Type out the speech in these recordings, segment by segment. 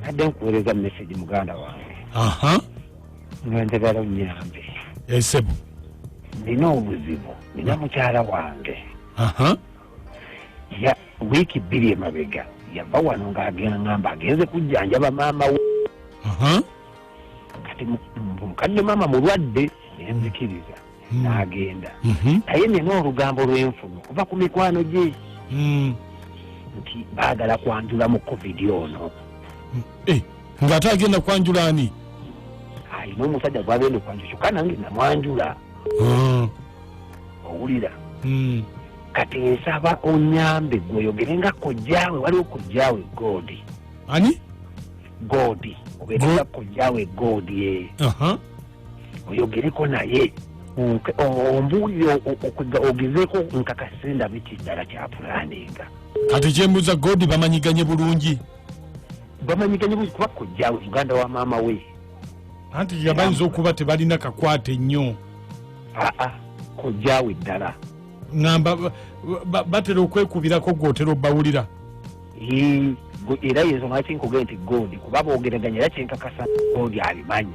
mbadde nkuweereza message muganda wange aha nga njagala onyambe esebo eh, nina obuzibu nina mukyala wange aha ya wiiki bbiri emabega yava wano ng'agengamba agenze kujjanjaba maama we kati mukadde maama mulwadde nenzikiriza hmm. n'agenda mhm. naye nina olugambo lwenfunu okuva ku mikwano gye hmm. nti baagala kwanjula mu covid ono hmm. eh, ng'ate agenda kwanjula ani alina omusajja gwagenda okwanjula kyokka nange namwanjula owulira kati nsaba onyambe gweoyogere nga kojjaawe waliwo kojjaawe godi ani godi obeera nga kojjaawe godi e eh. oyogereko naye ombuulire ogezeeko nkakase ndabiti ddala kyapulaninga kati kyembuza godi bamanyiganye bulungi bamanyiganye bulungi kuba kojja uganda wa maama we anti yabayinza okuba tebalina kakwate nnyo aa kojjawe ddala ngamba batera okwekubirako gwotera obawulira era yezo lwaki nkugee nti godi kuba bogeraganya era kyenkakasa godi abimanyi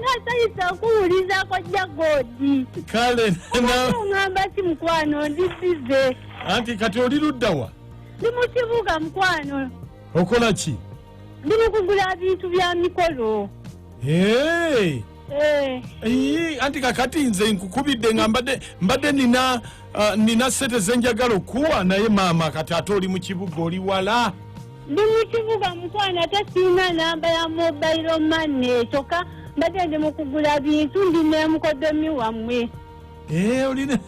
nasanyusa okuwuliza kojja godi kale na- oŋamba ki mukwano ndisize anti kati oli ludda wa ndi mu kibuga mukwano okola ki ndi mu kugula bintu bya mikolo Hey! Eh, Ii, anti kakati nze nkukubidde nga mbadde mbadde nina ah, nina sente zenjagala okuwa naye maama kati ate oli mu kibuga oli wala ndi mu kibuga mukwano ate sirina namba ya mobayiro mane kyokka mbadde ndi mu kugula bintu ndi nemukodomi wammwe Eh, olina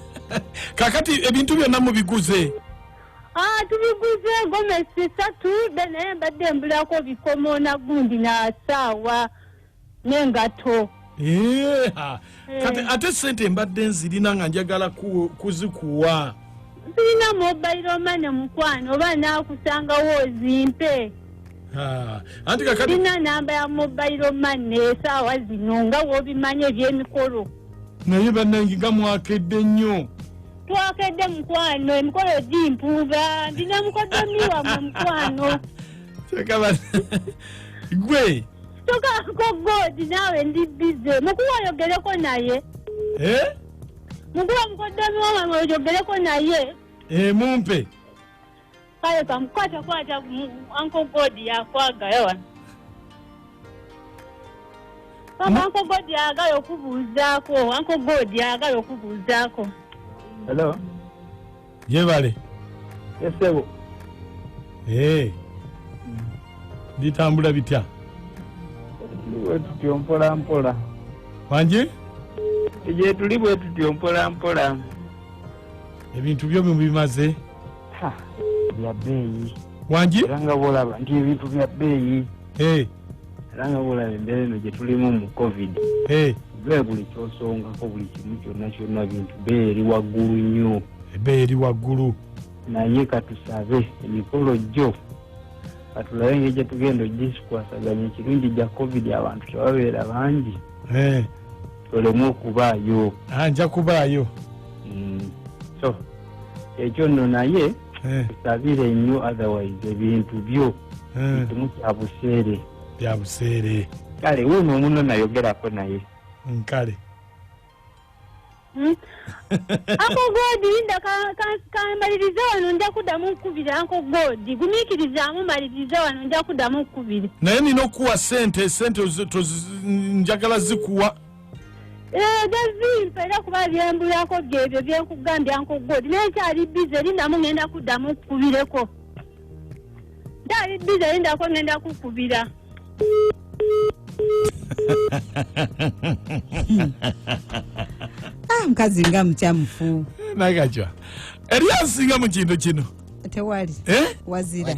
kakati ebintu byonna mubiguze Ah, tubiguze gomesi satu be naye mbadde mbulako bikomo na gundi na saawa nengatto Eh, ha. kati Eh. ate sente mbadde nzirina nga njagala ku- kuzikuwa sirina mobile mane mukwano oba nakusangawo ozimpe Ha. anti kakati sirina namba ya mobile mane esaawa zino nga wobimanyi ebyemikolo naye bannange nga mwakedde nnyo twakedde mukwano emikolo gimpuuga ndina mukodomi wamwe mukwano Kyeka ba- gwe tokako god naawe ndi bize mukuwa oyogereko naye Eh? mukuwa mukoddomi wamange oyogereko naye Eh, mumpe kale kamukwata kwata anko god yakwagala wano kama anko god yagala okubuuzaako anko god yagala okubuuzaako Hello. yebale esebo ee eh. bitambula bitya wetutyo mpola mpola wangi gyetuli bwetutyo mpola mpola ebintu byo bimaze bya bbeeyi wangi era nga bwolaba nti ebintu bya bbeeyi eh. era nga bwolaba embeera eno gye tulimu mu covid eh. be buli kyosongako buli kimu kyonna kyonna bintu bee eri waggulu nnyo ebe eri waggulu naye katusabe emikolo gyo katulabe ngeri gye tugenda ogisikwasaganya ekirungi gya covid abantu tebabeera bangi eh. olemu okubaayo ah, nja kubaayo mm. so ekyo nno naye eh. tusabire nnyo otherwise ebintu byo kimu eh. kya buseere bya buseere kale wuuno omuno nayogerako naye nkale hmm? ako godi nda kambaliriza wano nja kuddamu okukubira ako godi gumiikirizaamu maliriza wano nja kuddamu okukubira naye nina okukuwa sente sente njagala zikuwa Eh, gazimpa era kuba byembulako byebyo byenkugambya nkugodi naye kyali bize lindamu ngenda kuddamu kukubireko kyali bize lindako ngenda kukubira ah, mukazi nga mukyamufu eh, nagajwa eriyo asinga mu kintu kino tewali eh? wazira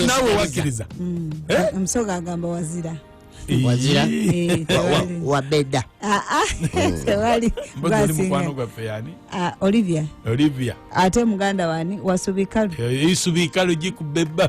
nawe wakiriza omusoga agamba wazira wazira Eh, wa- wa- tewali. wabeda Ah, ah, tewali mbozi oli gwasinga mukwano gwaffe yani Ah, olivia olivia ate muganda wani wasubika Eh, isubiikalo gikubebba